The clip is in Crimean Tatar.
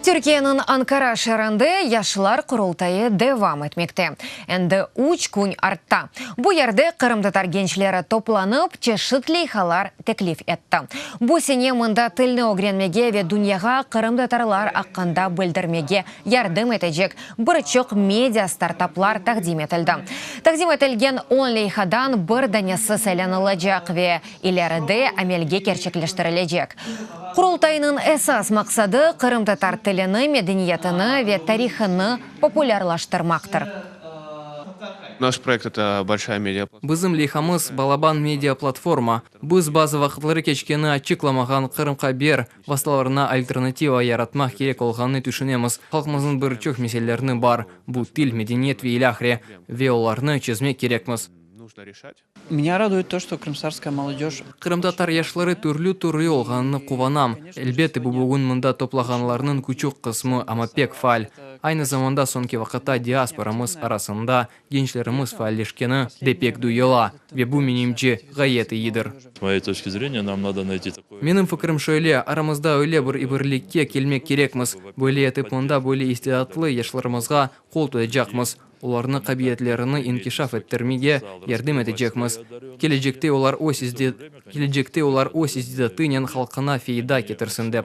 Türkiyeniñ Ankara şeerinde Yaşlar Qurultayı devam etmekte. Endi üç kün artta. Bu yerde qırımtatar gençleri toplanıp, çeşit leyhalar teklif etti. Bu sene mında tilni ögrenmege ve dünyağa qırımtatarlar aqqında bildirmege yardım etecek bir çoq media startaplar taqdim etildi. Taqdim etilgen on leyhadan bir danesi saylanılacaq ve ileride amelge kerçekleştirilecek. Qurultaynıñ esas maqsadı, qırımtatar tilini, medeniyetini ve tarihını populârlaştırmaqtır. Naş proyekt eta bolşaya media platforma. Bizim leyhamız, Balaban media platforma. Biz bazı vaqıtları keçkeni açıqlamağan Qırım Haber vastalarına alternativa yaratmaq kerek olğanını tüşünemiz. Halqımıznıñ bir çoq meselelerni bar, bu til, medeniyet ve ilâhre, ve olarnı çezmek kerekmiz. Meni raduet to, şto krımtatarskaya molodeş. Qırımtatar yaşları türlü türlü olğanını quvanam. Elbette, bu bugün mında toplağanlarnıñ küçük qısmı, amma pek faal. Aynı zamanda soñki vaqıtta diasporamız arasında gençlerimiz faalleşkeni de pek duyula, ve bu, menimce, ğayet iyidir. S moyey toçki zreniya, nam nado nayti takoy. Menim fikrim şöyle, aramızda öyle bir ibirlikke kelmek kerekmiz, böyle etip mında böyle istidatlı yaşlarımızğa qol tutacaqmız. olarnı qabietlerini inkişaf ettirmege yardım etecekmiz, kelecekte olar öz kelecekte olar öz istidatınen halqına feyda ketirsin dep.